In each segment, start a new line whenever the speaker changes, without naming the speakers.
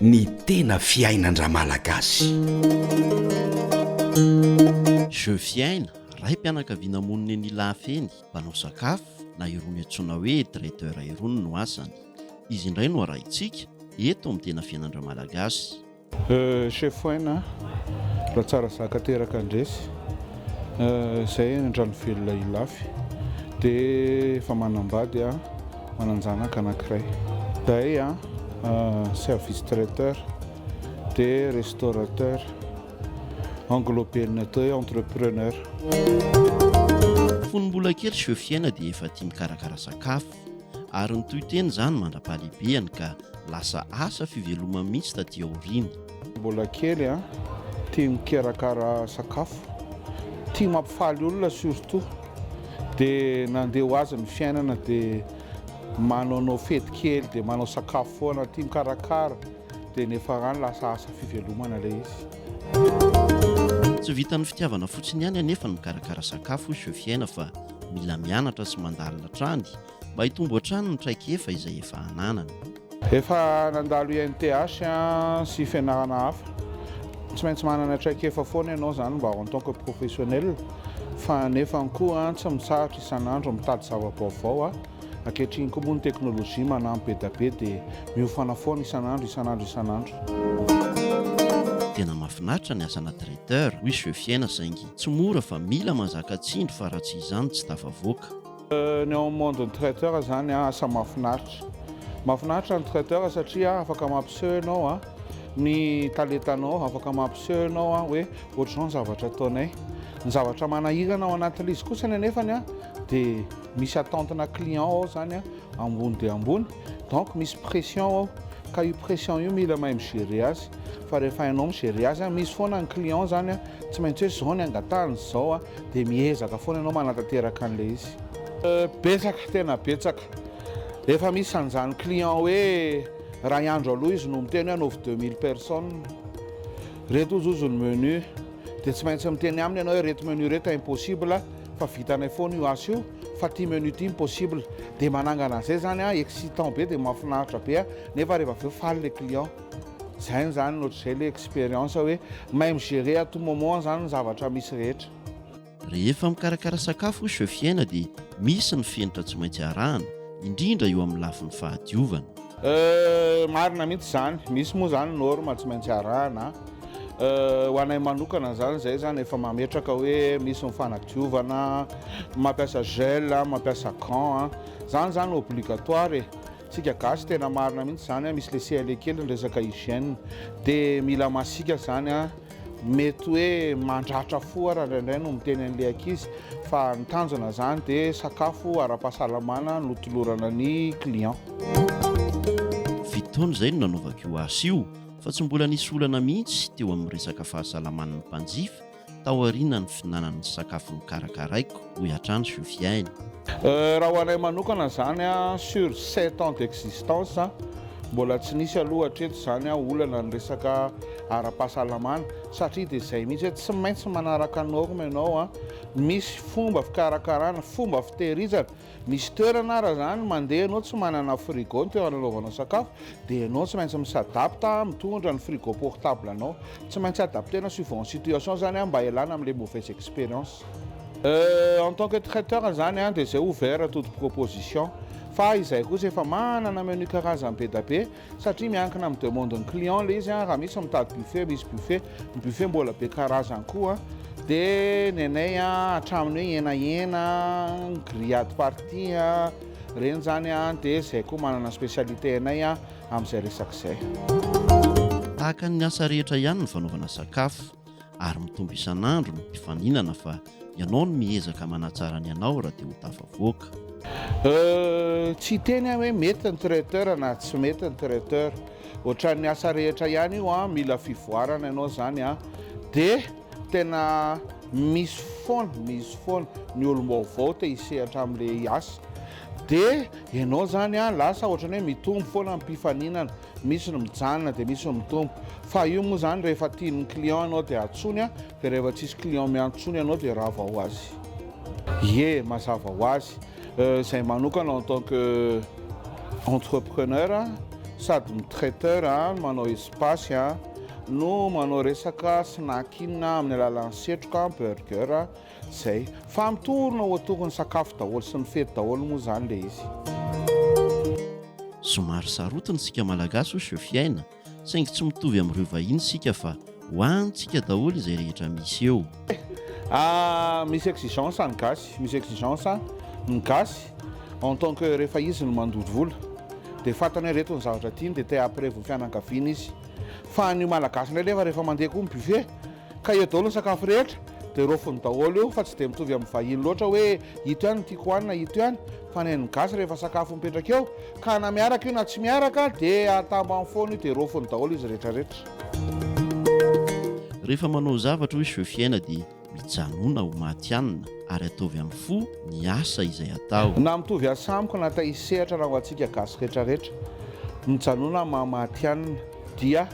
Ny tena fiainan-dRamalagasy.
Jeux Fiaina, raim-pianakaviana monina eny Ilafeny, mpanao sakafo, na irony antsoina hoe traiteur irony no asany. Izy indray no arahintsika, eto amin'ny tena fiainan-dRamalagasy. Euh chef
Wayne a! Raha tsara zaka teraka handresy Zay andrano velona Ilafy de efa manambady a! Mananjanaka anakiray Zay a! Service traiteur de restaurateur engloben'atao hoe entrepreneur.
Fony mbola kely chef Fiaina dia efa tia mikarakara sakafo. ary nitohy teny izany mandra-pahalehibehany ka lasa asa fivelomany mihitsy taty aoriana. Mbola kely
an, tia mikarakara sakafo, tia mampifaly olona surtout, dia nandeha ho azy ny fiainana dia manaonao fety kely dia manao sakafo foana, tia mikarakara dia nefaran lasa asa fivelomana ilay izy.
Tsy vitan'ny fitiavana fotsiny ihany anefa ny mikarakara sakafo hoy Sofiaina fa Mila mianatra sy mandalina hatrany mba hitombo hatrany ny traikefa izay efa ananany. Efa
nandalo INTH sy fianarana hafa. Tsy maintsy manana traikefa foana ianao izany mba en tant que professionnel fa nefany koa tsy mitsahatra isan'andro mitady zava-baovao. Ankehitriny koa moa ny teknolojia manampy be da be dia miofana foana isan'andro, isan'andro, isan'andro.
Tena mafinaritra ny asana traiteur, oui je fiaina saingy Tsy mora fa mila manzaka tsindry fa raha tsy izany tsy tafavoaka. Ny ao amin'ny
monde ny traiteur zany asa mahafinaritra. Mahafinaritra ny traiteur satria afaka mampiseho ianao a ny talentanao, afaka mampiseho ianao a hoe ohatr'izao ny zavatra ataonay. Ny zavatra manahirana ao anatin'ilay izy kosany anefany a dia misy attente-na client ao zany a ambony dia ambony. Donc misy pression ao ka io pression io mila mahay mi-gerer azy fa rehefa hainao mi-gerer azy a, misy foana ny client izany a, tsy maintsy hoe izao ny angatahany, izao a, dia miezaka foana ianao manatanteraka an'ilay izy. Betsaka, tena betsaka. Efa misy an'izany client hoe iray andro aloha izy no miteny hoe anaovy deux mille personnes, ireto hozy hozy ny menu, dia tsy maintsy miteny aminy ianao hoe ireto menu ireto impossible fa vitanay foana io asa io. fa ity menu ity impossible dia manangana an'izay zany an excitant be dia mahafinaritra be an nefa rehefa avy eo faly le client zay ny zany ohatr'izay le expérience hoe mahay mi-gerer à tout moment zany ny zavatra misy rehetra. Rehefa
mikarakara sakafo hoy Chef Iaina dia misy ny fenitra tsy maintsy arahana, indrindra eo amin'ny lafiny fahadiovana. Euh,
marina mihitsy izany, misy moa izany norme tsy maintsy arahana an. ho anay manokana izany izay izany efa mametraka hoe misy ny fanadiovana, mampiasa gel, mampiasa gants, izany izany obligatoire e! Isika gasy tena marina mihitsy izany, misy le CLE kely ny resaka hygiène dia mila masiaka izany, mety hoe mandratra fo ara indraindray no miteny an'le ankizy fa ny tanjona izany dia sakafo ara-pahasalamana no tolorana ny clients. Fito
taona izay no nanaovako io asa io. fa tsy mbola nisy olana mihitsy teo amin'ny resaka fahasalaman'ny mpanjifa taorianan'ny finanan'ny sakafo nokarakaraiko, hoy hatrany Soufiane. Raha ho
anay manokana izany, sur sept ans d'existence, mbola tsy nisy aloha hatreto izany olana ny resaka ara-pahasalamana satria dia izay mihitsy hoe tsy maintsy manaraka norme ianao, misy fomba fikarakarana, fomba fitehirizana Misy toerana ara zany mandeha ianao tsy manana frigo ny toerana anaovanao sakafo dia ianao tsy maintsy mi-s'adapte mitondra ny frigo portable anao. Tsy maintsy adapter-na suivant ny situation zany an mba hialana amin'ilay mauvaise expérience. Euh, en tant que traiteur zany an dia izay ouvert à toute proposition. Fa izahay kosa efa manana menu karazany be da be satria miankina amin'ny demande ny client le izy raha misy mitady buffet misy buffet ny buffet mbola be karazany koa de ny anay hatramin'ny hoe henahena grillade partie reny zany de zay koa manana specialité anay amin'izay resaka izay tahaka
ny asa rehetra ihany ny fanaovana sakafo ary mitombo isan'andro ny mpifaninana fa ianao no miezaka manatsara ny anao raha te ho tafavoaka. Euh,
tsy hiteny aho hoe mety ny traiteur na tsy mety ny traiteur, ohatran'ny asa rehetra ihany io an, mila fivoarana ianao izany an, de tena misy foana, misy foana ny olom-baovao te hisehatra amin'ilay asa, de ianao izany an lasa ohatran'ny hoe mitombo foana ny mpifaninana, Misy ny mijanona dia misy ny mitombo. Fa io moa zany rehefa tian'ny client ianao dia antsoiny an, dia rehefa tsisy client miantsoany ianao dia rava ho azy. Ie, mazava ho azy. Zay manokana en tant que entrepreneur sady mi-traiteur an, manao espace an, no manao resaka snack inn amin'ny alalan'ny setroka, burger, Zay. Fa mitorina ho atokony sakafo daholo sy ny fety daholo moa zany le izy.
Somary sarotiny isika malagasy hoy Sophie Aina, saingy tsy mitovy amin'ireo vahiny isika fa ho antsika daholo izay rehetra misy eo. Ah,
misy exigence ny gasy, misy exigence ny gasy en tant que rehefa izy no mandoto vola dia fantany hoe ireto ny zavatra tiany dia te hampirevo ny fianakaviany izy. Fa ny malagasy indray nefa rehefa mandeha koa ny buffet Ka eo daholo ny sakafo rehetra dia rofiny daholo io fa tsy dia mitovy amin'ny vahiny loatra hoe ito ihany no tiako hohanina ito ihany fa ny an'ny gasy rehefa sakafo mipetraka eo ka na miaraka io na tsy miaraka dia atamba amin'ny fono io dia rofiny daholo izy retraretra.
Rehefa manao zavatra hoe jeux fiaina dia mijanona ho matihanina ary ataovy amin'ny fo ny asa izay atao. Na mitovy asa amiko
na taizsehatra na ho antsika gasy retraretra mijanona maha matihanina dia.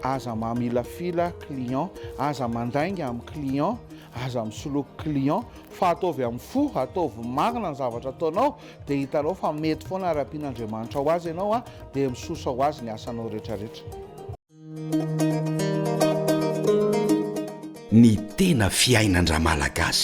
Aza mamilafila client, aza mandainga amin'ny client, aza misoloky client fa ataovy amin'ny fo, ataovy marina ny zavatra ataonao dia hitanao fa mety foana ary ampian'Andriamanitra ho azy ianao a, dia misosa ho azy ny asanao retraretra.
Ny tena fiainan-dramalagasy.